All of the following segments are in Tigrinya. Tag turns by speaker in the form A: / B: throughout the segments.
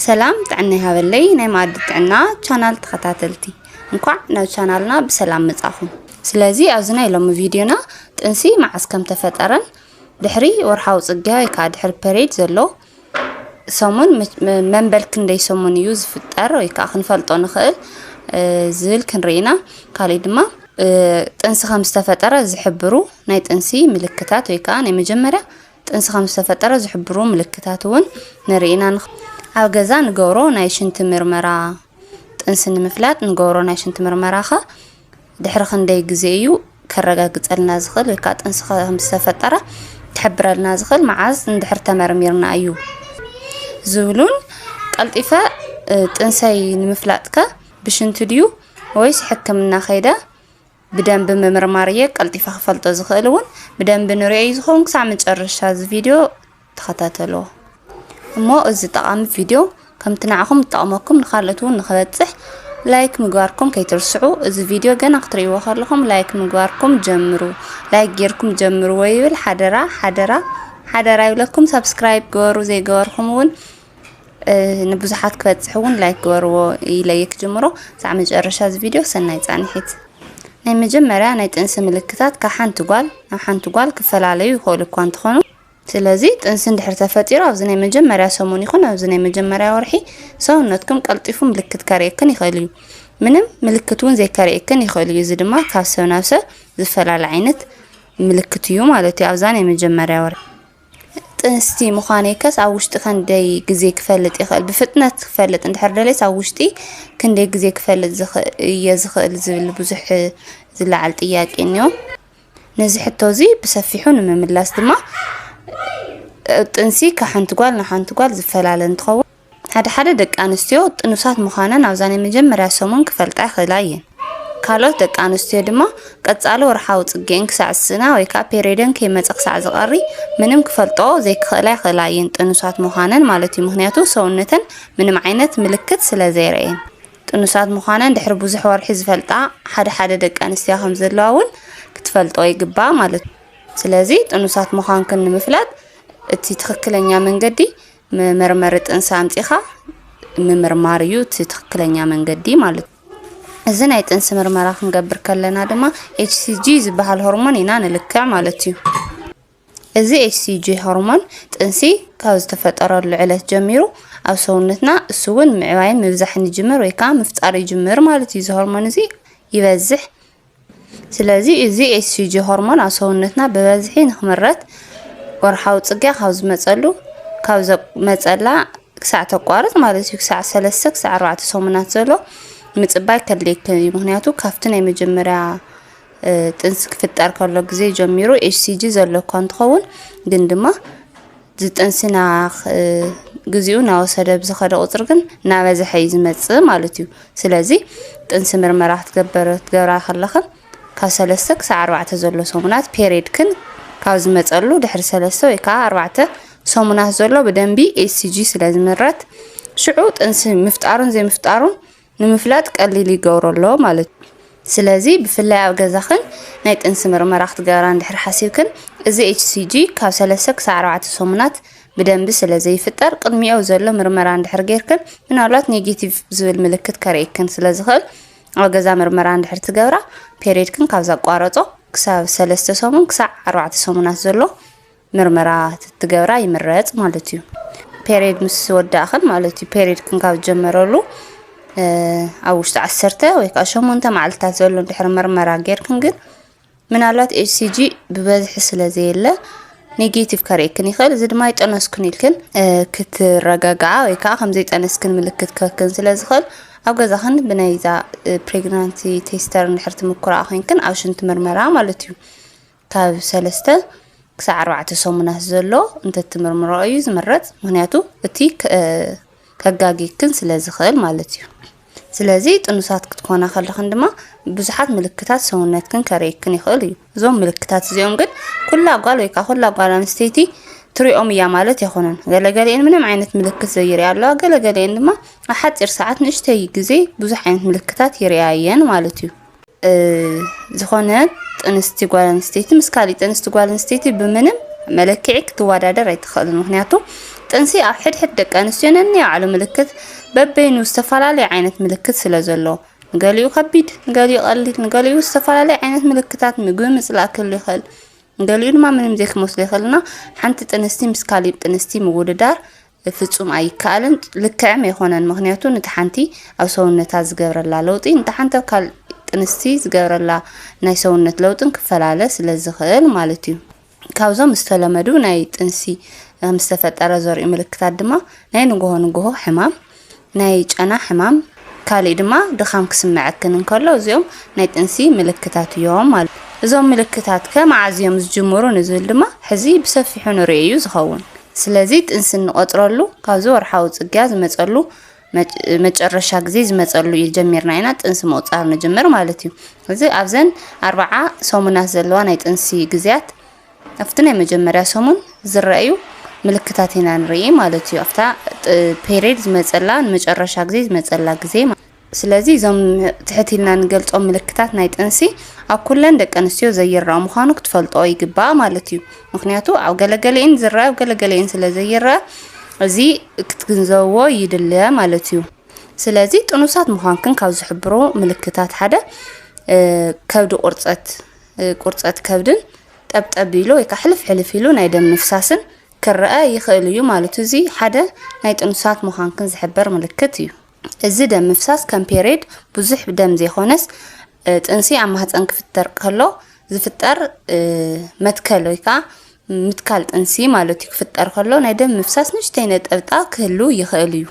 A: ሰላም ጥዕና ይሃበለይ ናይ መኣዲ ጥዕና ቻናል ተኸታተልቲ እንኳዕ ናብ ቻናልና ብሰላም መጻኹም። ስለዚ ኣብዚ ናይ ሎሚ ቪድዮና ጥንሲ መዓስ ከም ተፈጠረን ድሕሪ ወርሓዊ ጽግያ ወይ ከዓ ድሕሪ ፐሬድ ዘሎ ሰሙን መንበል ክንደይ ሰሙን እዩ ዝፍጠር ወይ ከዓ ክንፈልጦ ንኽእል ዝብል ክንርኢ ኢና ካሊእ ድማ ጥንሲ ከም ዝተፈጠረ ዝሕብሩ ናይ ጥንሲ ምልክታት ወይ ከዓ ናይ መጀመርያ ጥንሲ ከም ዝተፈጠረ ዝሕብሩ ምልክታት እውን ንርኢ ኢና። ኣብ ገዛ ንገብሮ ናይ ሽንቲ ምርመራ ጥንሲ ንምፍላጥ ንገብሮ ናይ ሽንቲ ምርመራ ከ ድሕሪ ክንደይ ግዜ እዩ ከረጋግጸልና ዝኽእል ወይ ከዓ ጥንሲ ከም ዝተፈጠረ ክሕብረልና ዝኽእል መዓዝ እንድሕር ተመርሚርና እዩ ዝብሉን ቀልጢፈ ጥንሰይ ንምፍላጥ ከ ብሽንቲ ድዩ ወይስ ሕክምና ከይደ ብደንቢ ምምርማር እየ ቀልጢፈ ክፈልጦ ዝኽእል እውን ብደንቢ ንሪኦ እዩ ዝኸውን ክሳብ መጨረሻ እዚ ቪድዮ ተኸታተልዎ እሞ እዚ ጠቓሚ ቪድዮ ከምቲ ንዓኹም ዝጠቕመኩም ንካልኦት እውን ንክበፅሕ ላይክ ምግባርኩም ከይትርስዑ እዚ ቪድዮ ገና ክትርእይዎ ከለኹም ላይክ ምግባርኩም ጀምሩ ላይክ ጌርኩም ጀምርዎ ይብል ሓደራ ሓደራ ሓደራ ይብለኩም ሰብስክራይብ ግበሩ ዘይገበርኩም እውን ንብዙሓት ክበፅሕ እውን ላይክ ግበርዎ ኢለየ ክጅምሮ ሳዕ መጨረሻ እዚ ቪድዮ ሰናይ ፃንሒት ናይ መጀመርያ ናይ ጥንሲ ምልክታት ካብ ሓንቲ ጓል ናብ ሓንቲ ጓል ክፈላለዩ ይኽእሉ እኳ እንትኾኑ ስለዚ ጥንሲ እንድሕር ተፈጢሩ ኣብዚ ናይ መጀመርያ ሰሙን ይኹን ኣብዚ ናይ መጀመርያ ወርሒ ሰውነትኩም ቀልጢፉ ምልክት ከርእየክን ይኽእል እዩ ምንም ምልክት እውን ዘይከርእየክን ይኽእል እዩ እዚ ድማ ካብ ሰብ ናብ ሰብ ዝፈላለ ዓይነት ምልክት እዩ ማለት እዩ ኣብዛ ናይ መጀመርያ ወርሒ ጥንስቲ ምዃነይከስ ኣብ ውሽጢ ከንደይ ግዜ ክፈልጥ ይኽእል? ብፍጥነት ክፈልጥ እንድሕር ደልየስ ኣብ ውሽጢ ክንደይ ግዜ ክፈልጥ እየ ዝኽእል? ዝብል ብዙሕ ዝለዓል ጥያቄ እኒኦ። ነዚ ሕቶ እዚ ብሰፊሑ ንምምላስ ድማ ጥንሲ ካብ ሓንቲ ጓል ናብ ሓንቲ ጓል ዝፈላለ እንትኸውን ሓደ ሓደ ደቂ ኣንስትዮ ጥኑሳት ምዃነን ኣብዛ ናይ መጀመርያ ሰሙን ክፈልጣ ይኽእላ እየን። ካልኦት ደቂ ኣንስትዮ ድማ ቀጻሊ ወርሓዊ ጽግኤን ክሳዕ ዝስእና ወይ ከኣ ፔሪዮደን ከይመጸ ክሳዕ ዝቐሪ ምንም ክፈልጦ ዘይክኽእላ ይኽእላ እየን ጥኑሳት ምዃነን ማለት እዩ ምክንያቱ ሰውነተን ምንም ዓይነት ምልክት ስለ ዘይረእየን ጥኑሳት ምዃነን ድሕሪ ብዙሕ ወርሒ ዝፈልጣ ሓደ ሓደ ደቂ ኣንስትዮ ከም ዘለዋ እውን ክትፈልጦ ይግባእ ማለት እዩ። ስለዚ ጥኑሳት ምዃንክን ንምፍላጥ እቲ ትኽክለኛ መንገዲ መመርመሪ ጥንሲ ኣምጺኻ ምምርማር እዩ እቲ ትክክለኛ መንገዲ ማለት እዩ። እዚ ናይ ጥንሲ ምርመራ ክንገብር ከለና ድማ ኤችሲጂ ዝበሃል ሆርሞን ኢና ንልክዕ ማለት እዩ። እዚ ኤችሲጂ ሆርሞን ጥንሲ ካብ ዝተፈጠረሉ ዕለት ጀሚሩ ኣብ ሰውነትና እሱ እውን ምዕባይን ምብዛሕን ይጅምር ወይ ከዓ ምፍጣር ይጅምር ማለት እዩ። እዚ ሆርሞን እዚ ይበዝሕ ስለዚ እዚ ኤስዩጂ ሆርሞን ኣብ ሰውነትና ብበዝሒ ንክምረት ወርሓዊ ፅግያ ካብ ዝመፀሉ ካብ ዘመፀላ ክሳዕ ተቋርፅ ማለት እዩ ክሳዕ ሰለስተ ክሳዕ ኣርባዕተ ሰሙናት ዘሎ ምፅባይ ከድልየከ እዩ ምክንያቱ ካብቲ ናይ መጀመርያ ጥንሲ ክፍጠር ከሎ ግዜ ጀሚሩ ኤችሲጂ ዘለኳ እንትኸውን ግን ድማ ዝጥንሲ ናኽ ግዚኡ ናወሰደ ብዝኸደ ቁፅሪ ግን ናበዝሐ እዩ ዝመፅእ ማለት እዩ። ስለዚ ጥንሲ ምርመራ ክትገበር ክትገብራ ከለኽን ካብ ሰለስተ ክሳዕ ኣርባዕተ ዘሎ ሰሙናት ፔሬድክን ካብ ዝመፀሉ ድሕሪ ሰለስተ ወይ ከዓ ኣርባዕተ ሰሙናት ዘሎ ብደንቢ ኤስጂ ስለ ዝምረት ሽዑ ጥንሲ ምፍጣሩን ዘይምፍጣሩን ንምፍላጥ ቀሊል ይገብሮ ኣሎ ማለት እዩ። ስለዚ ብፍላይ ኣብ ገዛኽን ናይ ጥንሲ ምርመራ ክትገብራ እንድሕር ሓሲብክን እዚ HCG ካብ ሰለስተ ክሳዕ ኣርባዕተ ሰሙናት ብደንቢ ስለ ዘይፍጠር ቅድሚኡ ዘሎ ምርመራ እንድሕር ጌርክን ምናልባት ኔጌቲቭ ዝብል ምልክት ከርእየክን ስለ ዝኽእል ኣብ ገዛ ምርመራ እንድሕር ትገብራ ፔሬድክን ካብ ዘቋረጾ ክሳብ ሰለስተ ሰሙን ክሳዕ ኣርባዕተ ሰሙናት ዘሎ ምርመራ ትትገብራ ይምረጽ ማለት እዩ ፔሬድ ምስ ወዳእኽን ማለት እዩ ፔሬድ ክንካብ ዝጀመረሉ ኣብ ውሽጢ ዓሰርተ ወይ ከዓ ሸሞንተ መዓልትታት ዘሎ ድሕሪ ምርመራ ጌርክን ግን ምናልባት ኤችሲጂ ብበዝሒ ስለ ዘየለ ኔጌቲቭ ከርእክን ይኽእል እዚ ድማ ይጠነስክን ኢልክን ክትረጋግዓ ወይ ከዓ ከምዘይጠነስክን ምልክት ክህክን ስለ ዝኽእል ኣብ ገዛኽን ብናይዛ ፕሬግናንቲ ቴስተር እንድሕር ትምኩራ ኮንክን ኣብ ሽንቲ ምርመራ ማለት እዩ ካብ ሰለስተ ክሳዕ ኣርባዕተ ሰሙናት ዘሎ እንተትምርምረኦ እዩ ዝምረፅ። ምክንያቱ እቲ ከጋጊክን ስለ ዝኽእል ማለት እዩ። ስለዚ ጥኑሳት ክትኮና ከለኽን ድማ ብዙሓት ምልክታት ሰውነትክን ከርእየክን ይኽእል እዩ። እዞም ምልክታት እዚኦም ግን ኩላ ጓል ወይ ከዓ ኩላ ጓል ኣንስተይቲ ትሪኦም እያ ማለት ኣይኮነን። ገለገሊኤን ምንም ዓይነት ምልክት ዘይርያ ኣለዋ፣ ገለገሊኤን ድማ ኣብ ሓፂር ሰዓት ንእሽተይ ግዜ ብዙሕ ዓይነት ምልክታት ይርያ እየን ማለት እዩ። ዝኾነ ጥንስቲ ጓል ኣንስተይቲ ምስ ካሊእ ጥንስቲ ጓል ኣንስተይቲ ብምንም መለክዒ ክትወዳደር ኣይትኽእልን። ምክንያቱ ጥንሲ ኣብ ሕድሕድ ደቂ ኣንስትዮ ነናይ ባዕሉ ምልክት በበይኑ ዝተፈላለየ ዓይነት ምልክት ስለ ዘሎ ንገሊኡ ከቢድ፣ ንገሊኡ ቀሊል፣ ንገሊኡ ዝተፈላለየ ዓይነት ምልክታት ምግቢ ምፅላእ ክህሉ ይኽእል፣ ንገሊኡ ድማ ምንም ዘይክመስሉ ይኽእልና ሓንቲ ጥንስቲ ምስ ካሊእ ጥንስቲ ምውድዳር ፍጹም ኣይከኣልን ልክዕም የኮነን ምክንያቱ ንቲ ሓንቲ ኣብ ሰውነታ ዝገብረላ ለውጢ ንቲ ሓንቲ ኣብ ካል ጥንስቲ ዝገብረላ ናይ ሰውነት ለውጥን ክፈላለ ስለ ዝክእል ማለት እዩ ካብዞም ዝተለመዱ ናይ ጥንሲ ምስተፈጠረ ዘርኡ ምልክታት ድማ ናይ ንጎሆ ንጎሆ ሕማም ናይ ጨና ሕማም፣ ካሊእ ድማ ድኻም ክስመዐክን እንከሎ እዚኦም ናይ ጥንሲ ምልክታት እዮም ማለት እዩ። እዞም ምልክታት ከ መዓዝ እዮም ዝጅምሩ ንዝብል ድማ ሕዚ ብሰፊሑ ንሪኦ እዩ ዝኸውን። ስለዚ ጥንሲ እንቖፅረሉ ካብዚ ወርሓዊ ፅግያ ዝመፀሉ መጨረሻ ግዜ ዝመፀሉ እዩ ጀሚርና ኢና ጥንሲ ምቑፃር ንጅምር ማለት እዩ። እዚ ኣብዘን ኣርብዓ ሰሙናት ዘለዋ ናይ ጥንሲ ግዝያት ኣብቲ ናይ መጀመርያ ሰሙን ዝረኣዩ ምልክታት ኢና ንርኢ ማለት እዩ። ኣብታ ፔሬድ ዝመፀላ ንመጨረሻ ግዜ ዝመፀላ ግዜ ስለዚ እዞም ትሕት ኢልና ንገልፆም ምልክታት ናይ ጥንሲ ኣብ ኩለን ደቂ ኣንስትዮ ዘይረኣ ምዃኑ ክትፈልጦ ይግባእ ማለት እዩ። ምክንያቱ ኣብ ገለገለኤን ዝረኣ ኣብ ገለገለኤን ስለ ዘይረኣ እዚ ክትግንዘብዎ ይድለ ማለት እዩ ስለዚ ጥኑሳት ምዃንክን ካብ ዝሕብሩ ምልክታት ሓደ ከብዲ ቁርፀት ቁርፀት ከብድን ጠብጠብ ኢሉ ወይ ከዓ ሕልፍ ሕልፍ ኢሉ ናይ ደም ምፍሳስን ክረኣ ይኽእል እዩ ማለት እዚ ሓደ ናይ ጥኑሳት ምዃንክን ዝሕበር ምልክት እዩ። እዚ ደም ምፍሳስ ከም ፔሬድ ብዙሕ ደም ዘይኮነስ ጥንሲ ኣብ ማህፀን ክፍጠር ከሎ ዝፍጠር መትከል ወይ ከዓ ምትካል ጥንሲ ማለት እዩ ክፍጠር ከሎ ናይ ደም ምፍሳስ ንእሽተይ ነጠብጣ ክህሉ ይኽእል እዩ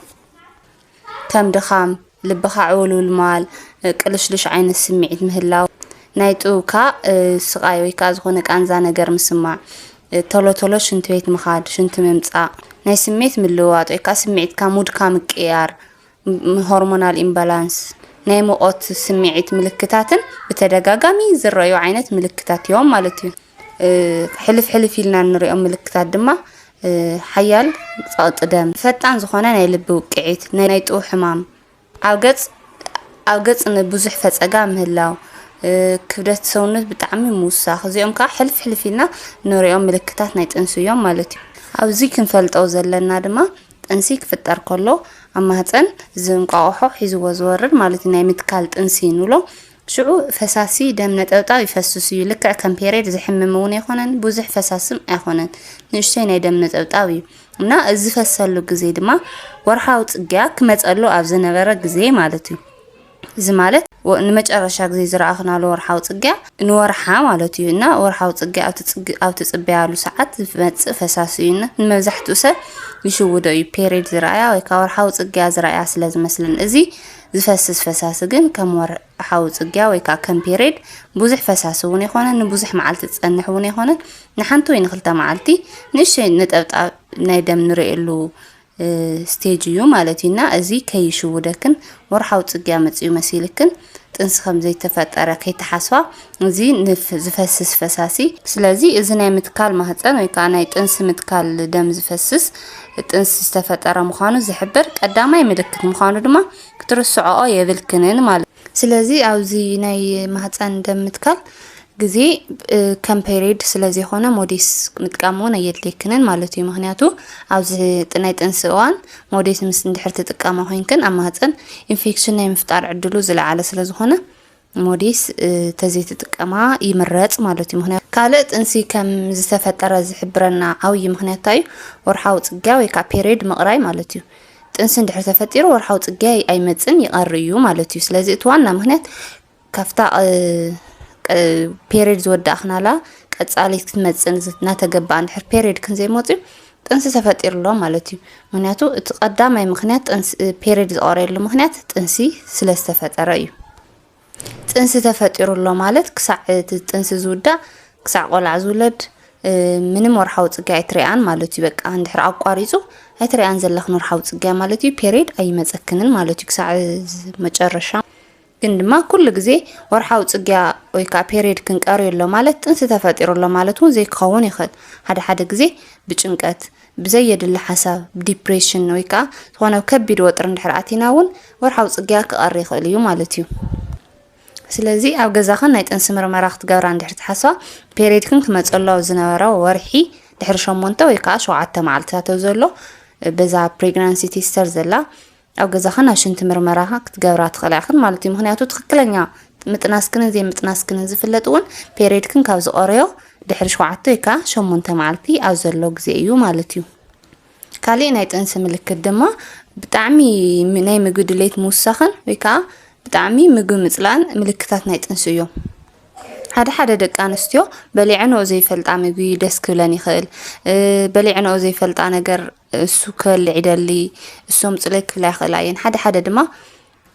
A: ከም ድኻም፣ ልብኻ ዕውልውል ምባል፣ ቅልሽሉሽ ዓይነት ስምዒት ምህላው፣ ናይ ጥውካ ስቓይ ወይ ከዓ ዝኾነ ቃንዛ ነገር ምስማዕ፣ ቶሎ ቶሎ ሽንቲ ቤት ምኻድ፣ ሽንቲ ምምፃእ፣ ናይ ስምዒት ምልውዋጥ ወይ ከዓ ስምዒትካ ሙድካ ምቅያር፣ ሆርሞናል ኢምባላንስ፣ ናይ ሙቐት ስምዒት ምልክታትን ብተደጋጋሚ ዝረኣዩ ዓይነት ምልክታት እዮም ማለት እዩ። ሕልፍ ሕልፍ ኢልና እንሪኦም ምልክታት ድማ ሓያል ጸቕጢ ደም፣ ፈጣን ዝኾነ ናይ ልቢ ውቅዒት፣ ናይ ጥው ሕማም፣ ኣብ ገጽ ኣብ ገጽ ንብዙሕ ፈጸጋ ምህላው፣ ክብደት ሰውነት ብጣዕሚ ምውሳኽ፣ እዚኦም ከዓ ሕልፍ ሕልፍ ኢልና ንሪኦም ምልክታት ናይ ጥንሲ እዮም ማለት እዩ። ኣብዚ ክንፈልጦ ዘለና ድማ ጥንሲ ክፍጠር ከሎ ኣብ ማህፀን እዚ እንቋቑሖ ሒዝዎ ዝወርድ ማለት እዩ ናይ ምትካል ጥንሲ ንብሎ ሽዑ ፈሳሲ ደም ነጠብጣብ ይፈስስ እዩ ልክዕ ከም ፔሬድ ዝሕምም እውን ኣይኮነን ብዙሕ ፈሳስም ኣይኮነን ንእሽተይ ናይ ደም ነጠብጣብ እዩ እና እዚ ዝፈሰሉ ግዜ ድማ ወርሓዊ ፅግያ ክመፀሉ ኣብ ዝነበረ ግዜ ማለት እዩ እዚ ማለት ንመጨረሻ ግዜ ዝረኣኽናሉ ወርሓዊ ፅግያ ንወርሓ ማለት እዩ እና ወርሓዊ ፅግያ ኣብ ትፅበያሉ ሰዓት ዝመፅእ ፈሳሲ እዩ እና ንመብዛሕትኡ ሰብ ይሽውዶ እዩ ፔሬድ ዝረኣያ ወይ ከዓ ወርሓዊ ፅግያ ዝረኣያ ስለ ዝመስለን እዚ ዝፈስስ ፈሳሲ ግን ከም ወርሓዊ ጽግያ ወይ ከኣ ከም ፔሬድ ብዙሕ ፈሳሲ እውን ኣይኮነን፣ ንብዙሕ መዓልቲ ዝጸንሕ እውን ኣይኮነን። ንሓንቲ ወይ ንክልተ መዓልቲ ንእሽተይ ነጠብጣብ ናይ ደም ንርእየሉ ስቴጅ እዩ ማለት እዩ እና እዚ ከይሽውደክን ወርሓዊ ጽግያ መጽኡ መሲልክን ጥንሲ ከም ዘይተፈጠረ ከይተሓስባ እዚ ንፍ ዝፈስስ ፈሳሲ ስለዚ እዚ ናይ ምትካል ማህፀን ወይ ከዓ ናይ ጥንሲ ምትካል ደም ዝፈስስ ጥንሲ ዝተፈጠረ ምዃኑ ዝሕብር ቀዳማይ ምልክት ምዃኑ ድማ ክትርስዖኦ የብልክንን ማለት ስለዚ ኣብዚ ናይ ማህፀን ደም ምትካል ግዜ ከም ፔሪድ ስለ ዘይኮነ ሞዴስ ምጥቃም እውን ኣየድልየክንን ማለት እዩ ምክንያቱ ኣብዚ ናይ ጥንሲ እዋን ሞዴስ ምስ እንድሕር ትጥቀማ ኮይንክን ኣብ ማህፀን ኢንፌክሽን ናይ ምፍጣር ዕድሉ ዝለዓለ ስለ ዝኾነ ሞዴስ ተዘይትጥቀማ ይምረፅ ማለት እዩ። ምክንያቱ ካልእ ጥንሲ ከም ዝተፈጠረ ዝሕብረና ዓብዪ ምክንያት እንታይ እዩ? ወርሓዊ ፅግያ ወይ ከዓ ፔሬድ ምቕራይ ማለት እዩ። ጥንሲ እንድሕር ተፈጢሩ ወርሓዊ ፅግያ ኣይመፅን ይቐር እዩ ማለት እዩ። ስለዚ እቲ ዋና ምክንያት ካብታ ፔሬድ ዝወዳእክናላ ቀፃሊት ክትመፅን እናተገባኣ እንድሕር ፔሬድ ክንዘይመፅዩ ጥንሲ ተፈጢሩ ኣሎ ማለት እዩ ምክንያቱ እቲ ቀዳማይ ምክንያት ጥንሲ ፔሬድ ዝቆረየሉ ምክንያት ጥንሲ ስለ ዝተፈጠረ እዩ ጥንሲ ተፈጢሩ ኣሎ ማለት ክሳዕ እቲ ጥንሲ ዝውዳእ ክሳዕ ቆልዓ ዝውለድ ምንም ወርሓዊ ፅግያ ኣይትሪኣን ማለት እዩ በቃ እንድሕር ኣቋሪፁ ኣይትሪኣን ዘለኽን ወርሓዊ ፅግያ ማለት እዩ ፔሬድ ኣይመፀክንን ማለት እዩ ክሳዕ መጨረሻ ግን ድማ ኩሉ ግዜ ወርሓዊ ጽግያ ወይ ከኣ ፔርየድ ክንቀርዮ ኣሎ ማለት ጥንሲ ተፈጢሩ ኣሎ ማለት እውን ዘይክኸውን ይኽእል። ሓደ ሓደ ግዜ ብጭንቀት፣ ብዘየድሊ ሓሳብ፣ ዲፕሬሽን፣ ወይ ከኣ ዝኾነ ኣብ ከቢድ ወጥሪ እንድሕር ኣቲና እውን ወርሓዊ ጽግያ ክቐሪ ይኽእል እዩ ማለት እዩ። ስለዚ ኣብ ገዛኽን ናይ ጥንሲ ምርመራ ክትገብራ እንድሕር ትሓስባ ፔርየድክን ክመጸሎ ዝነበረ ወርሒ ድሕሪ ሸሞንተ ወይ ከኣ ሸውዓተ መዓልትታት ዘሎ በዛ ፕሬግናንሲ ቴስተር ዘላ ኣብ ገዛኺ ናይ ሽንቲ ምርመራ ክትገብራ ትኽእላ ኢኽን ማለት እዩ። ምክንያቱ ትክክለኛ ምጥናስክንን ዘይምጥናስክንን ዝፍለጥ እውን ፔሬድክን ካብ ዝቆረዮ ድሕሪ ሸውዓተ ወይ ከዓ ሸሞንተ መዓልቲ ኣብ ዘሎ ግዜ እዩ ማለት እዩ። ካሊእ ናይ ጥንሲ ምልክት ድማ ብጣዕሚ ናይ ምግቢ ድሌት ምውሳኽን ወይ ከዓ ብጣዕሚ ምግቢ ምፅላን ምልክታት ናይ ጥንሲ እዮም ሓደ ሓደ ደቂ ኣንስትዮ በሊዐንኦ ዘይፈልጣ ምግቢ ደስ ክብለን ይኽእል በሊዐንኦ ዘይፈልጣ ነገር እሱ ክበልዕ ይደሊ፣ እሶም ጽለይ ክብላ ይኽእላ እየን፣ ሓደ ሓደ ድማ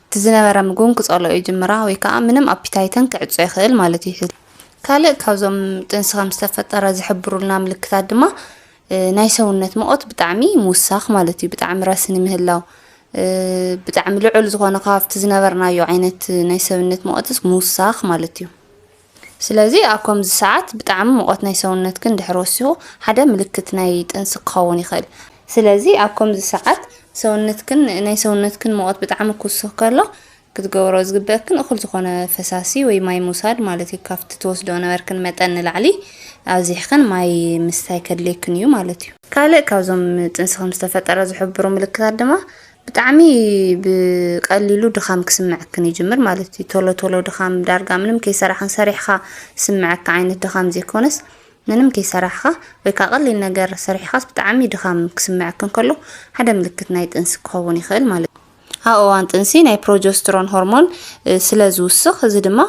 A: እቲ ዝነበረ ምግቡን ክጸልኦ ይጅምራ ወይ ከኣ ምንም ኣፒታይተን ክዕጾ ይኽእል ማለት እዩ። ካልእ ካብዞም ጥንሲ ከም ዝተፈጠረ ዝሕብሩልና ምልክታት ድማ ናይ ሰውነት መቆት ብጣዕሚ ምውሳኽ ማለት እዩ፣ ብጣዕሚ ረስኒ ምህላው ብጣዕሚ ልዑል ዝኾነ ካብቲ ዝነበርናዮ ዓይነት ናይ ሰብነት መቆትስ ምውሳኽ ማለት እዩ። ስለዚ ኣብ ከምዚ ሰዓት ብጣዕሚ ሙቐት ናይ ሰውነትክን ድሕሪ ወሲኹ ሓደ ምልክት ናይ ጥንሲ ክኸውን ይኽእል። ስለዚ ኣብ ከምዚ ሰዓት ሰውነትክን ናይ ሰውነትክን ሙቐት ብጣዕሚ ክውስኽ ከሎ ክትገብሮ ዝግበእክን እኹል ዝኾነ ፈሳሲ ወይ ማይ ምውሳድ ማለት እዩ። ካብቲ ትወስድኦ ነበርክን መጠን ንላዕሊ ኣብዚሕክን ማይ ምስታይ ከድልየክን እዩ ማለት እዩ። ካልእ ካብዞም ጥንሲ ከም ዝተፈጠረ ዝሕብሩ ምልክታት ድማ ብጣዕሚ ብቀሊሉ ድኻም ክስምዐክን ይጅምር ማለት እዩ። ቶሎ ቶሎ ድኻም ዳርጋ ምንም ከይሰራሕን ሰሪሕኻ ዝስምዐካ ዓይነት ድኻም ዘይኮነስ ምንም ከይሰራሕኻ ወይ ከዓ ቀሊል ነገር ሰሪሕኻስ ብጣዕሚ ድኻም ክስምዐክን ከሎ ሓደ ምልክት ናይ ጥንሲ ክኸውን ይኽእል ማለት እዩ። ኣብ እዋን ጥንሲ ናይ ፕሮጀስትሮን ሆርሞን ስለ ዝውስኽ እዚ ድማ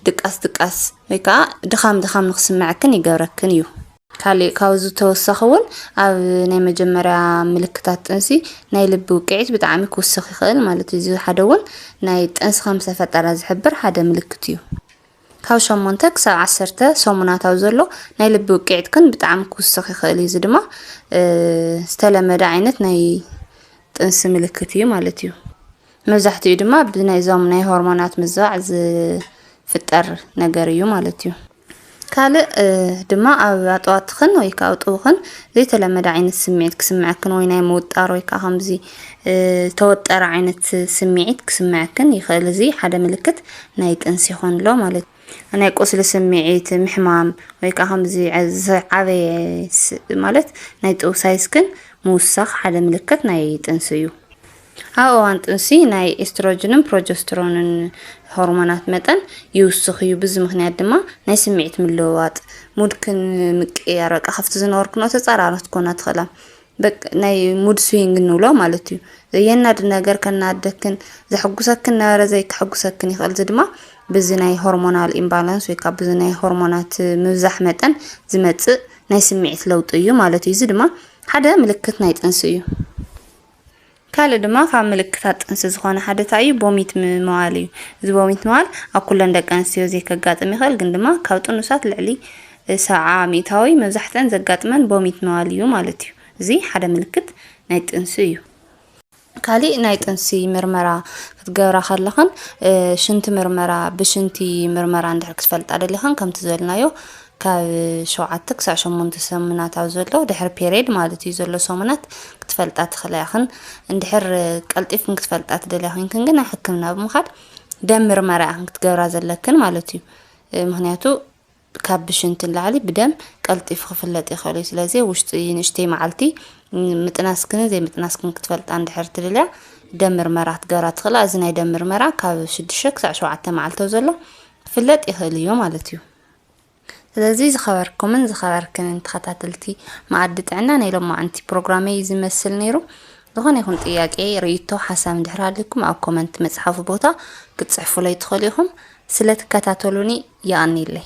A: ድቃስ ድቃስ ወይ ከዓ ድኻም ድኻም ንክስምዐክን ይገብረክን እዩ። ካሊእ ካብዚ ብተወሳኺ እውን ኣብ ናይ መጀመርያ ምልክታት ጥንሲ ናይ ልቢ ውቅዒት ብጣዕሚ ክውስኽ ይኽእል ማለት እዩ። እዚ ሓደ እውን ናይ ጥንሲ ከም ዝተፈጠረ ዝሕብር ሓደ ምልክት እዩ። ካብ ሸሞንተ ክሳብ ዓሰርተ ሰሙናት ኣብ ዘሎ ናይ ልቢ ውቅዒት ግን ብጣዕሚ ክውስኽ ይኽእል እዩ። እዚ ድማ ዝተለመደ ዓይነት ናይ ጥንሲ ምልክት እዩ ማለት እዩ። መብዛሕትኡ ድማ ብናይዞም ናይ ሆርሞናት ምዝባዕ ዝፍጠር ነገር እዩ ማለት እዩ። ካልእ ድማ ኣብ ኣጠዋትኽን ወይ ከዓ ኣእጡውኽን ዘይተለመደ ዓይነት ስምዒት ክስምዐክን ወይ ናይ ምውጣር ወይ ከዓ ከምዚ ዝተወጠረ ዓይነት ስምዒት ክስምዐክን ይኽእል። እዚ ሓደ ምልክት ናይ ጥንሲ ይኾን ኣሎ ማለት እዩ። ናይ ቁስሊ ስምዒት ምሕማም ወይ ከዓ ከምዚ ዝዓበየ ማለት ናይ ጥውሳይስክን ምውሳኽ ሓደ ምልክት ናይ ጥንሲ እዩ። ኣብ እዋን ጥንሲ ናይ ኤስትሮጅንን ፕሮጀስትሮንን ሆርሞናት መጠን ይውስኽ እዩ። ብዚ ምክንያት ድማ ናይ ስምዒት ምልውዋጥ፣ ሙድ ምቅይያር፣ በቃ ካብቲ ዝነበርክኖ ተጻራሪ ክትኮና ትኽእላ። ናይ ሙድ ስዊንግ ንብሎ ማለት እዩ ዘየናድ ነገር ከናደክን ዘሐጉሰክን ነበረ ዘይከሐጉሰክን ይኽእል እዚ ድማ ብዚ ናይ ሆርሞናል ኢምባላንስ ወይ ካብ ብዚ ናይ ሆርሞናት ምብዛሕ መጠን ዝመጽእ ናይ ስምዒት ለውጢ እዩ ማለት እዩ እዚ ድማ ሓደ ምልክት ናይ ጥንሲ እዩ ካልእ ድማ ካብ ምልክታት ጥንሲ ዝኾነ ሓደ እንታይ እዩ? ቦሚት ምባል እዩ። እዚ ቦሚት ምባል ኣብ ኩለን ደቂ ኣንስትዮ ዘይከጋጥም ይኽእል፣ ግን ድማ ካብ ጥኑሳት ልዕሊ ሰብዓ ሚእታዊ መብዛሕትኣን ዘጋጥመን ቦሚት ምባል እዩ ማለት እዩ። እዚ ሓደ ምልክት ናይ ጥንሲ እዩ። ካሊእ ናይ ጥንሲ ምርመራ ክትገብራ ከለኽን ሽንቲ ምርመራ ብሽንቲ ምርመራ እንድሕር ክትፈልጣ ደሊኽን ከምቲ ዝበልናዮ ካብ ሸውዓተ ክሳዕ ሸሞንተ ሰሙናት ኣብ ዘሎ ድሕሪ ፔሬድ ማለት እዩ ዘሎ ሰሙናት ክትፈልጣ ትኽእላ ኢኽን። እንድሕር ቀልጢፍክን ክትፈልጣ ትደልያ ኮይንክን ግን ናብ ሕክምና ብምኻድ ደም ምርመራ ኢኽን ክትገብራ ዘለክን ማለት እዩ። ምክንያቱ ካብ ብሽንቲ ንላዕሊ ብደም ቀልጢፉ ክፍለጥ ይኽእል እዩ። ስለዚ ውሽጢ ንእሽተይ መዓልቲ ምጥናስክንን ዘይምጥናስክን ክትፈልጣ እንድሕር ትደልያ ደም ምርመራ ክትገብራ ትኽእላ። እዚ ናይ ደም ምርመራ ካብ ሽዱሽተ ክሳዕ ሸውዓተ መዓልቲ ኣብ ዘሎ ክፍለጥ ይኽእል እዩ ማለት እዩ። ስለዚ ዝኸበርኩምን ዝኸበርክንን ተኸታተልቲ መኣዲ ጥዕና ናይ ሎማዓንቲ ፕሮግራመይ እዚ መስል ነይሩ። ዝኾነ ይኹን ጥያቄ፣ ርእይቶ፣ ሓሳብ እንድሕር ሃልዩኩም ኣብ ኮመንት መጽሓፉ ቦታ ክትጽሕፉለይ ትኽእሉ ኢኹም። ስለ ትከታተሉኒ የቐንየለይ።